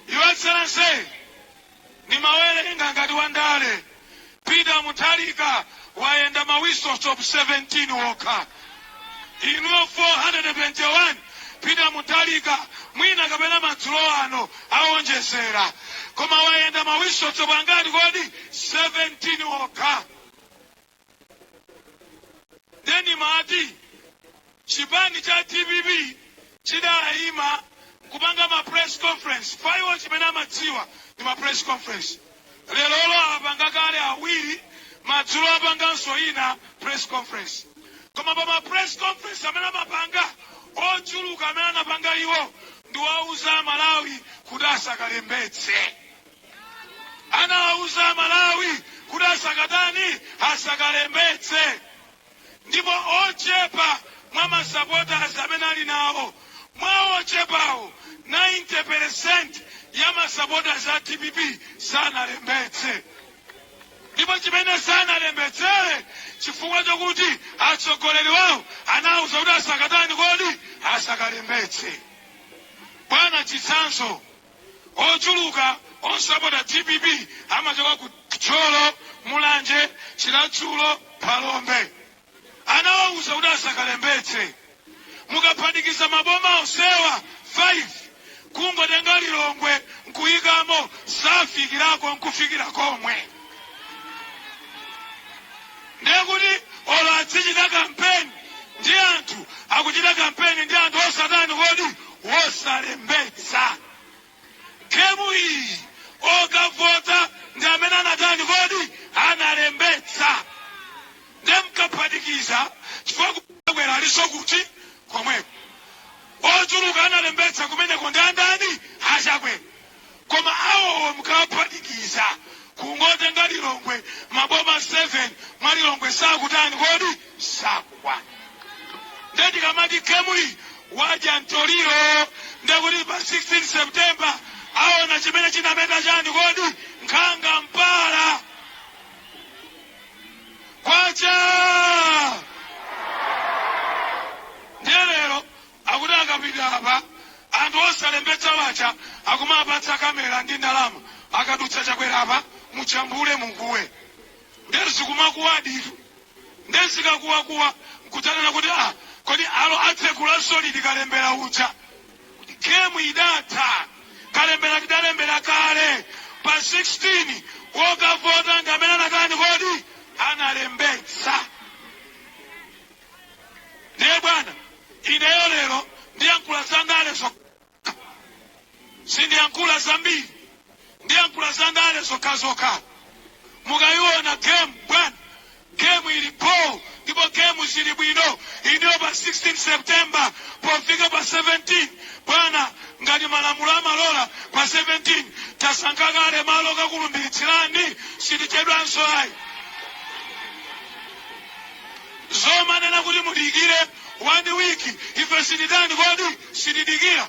Your Excellency, ndimawerenga ngati wandale Peter Mutharika wayenda ma whistle stop 17 okha inuyo 421 Peter Mutharika mwina kapena madzulo ano awonjezera koma wayenda ma whistle stop angati kodi 17 okha nde ndimati chipani cha dpp chidayima nkupanga ma press conference Kwa iwo chimene amadziwa ndi ma press conference lerolo apanga kale awiri madzulo apanganso ina press conference koma pa ma press conference amene amapanga ochuluka amene amapanga iwo ndiwauza amalawi kuti asakalembetse Anawauza amalawi kuti asakatani? Asakalembetse ndipo ochepa mwa ma supporters amene ali nawo, mwa ochepawo 90% ya ma supporters a dpp sanalembetse ndipo chimene sanalembetse chifukwa chokuti atsogoleri wawo anawauza kuti asakatani kodi? Asakalembetse. Bwana chitsanzo. Ochuluka osapota dpp amachoka ku Thyolo, Mulanje, Chiradzulu, Phalombe. Anawauza kuti asakalembetse. Mukaphatikiza maboma onsewa 5 kungotenga Lilongwe nkuyikamo sakufikirako nkufikira komwe. Ndiye kuti olo azichita kampeni ndi anthu akuchita kampeni ndi anthu osatani kodi? osalembetsa. Game iyi okavota ndi amene anatani kodi analembetsa nde mkaphatikiza chifukwa kukwera aliso kuti komweko ochuluka analembetsa kumeneko ndi andani a Chakwera koma awowo mkawaphatikiza kungotenga Lilongwe maboma 7 mwa Lilongwe sakutani kodi sakukwana nde tikamati game iyi wadya mtoliro ndekuti pa 16 September aona chimene chinameta chani kodi nkhanga mpala kwacha Akuti akapita apa anthu osalembetsawo aja akumawapatsa camera ndi ndalama akadutsa Chakwera apa mujambule mukuwe nde zikumakuwaditu nde zikakuwakuwa nkudzanena kuti kodi alo atsekula solid kalembera uja game idatha kalembera tidalembera kale pa 16 okavota ndi amene anatani kodi analembetsa. ndiye bwana ineyo lero ndiyankhula za ndale zokha sindiyankhula zambiri ndiyankhula za ndale zokhazokha mukayiona game bwana gemu ilipo ndipo gemu zili bwino ineyo pa 16 september pofika pa 17 bwana ngati malamulo amalola pa 17 tasankhe kale malo kakulumbiritsirani sitichedwanso ayi zomanena kuti mudikire one week ife sititani kodi sitidikira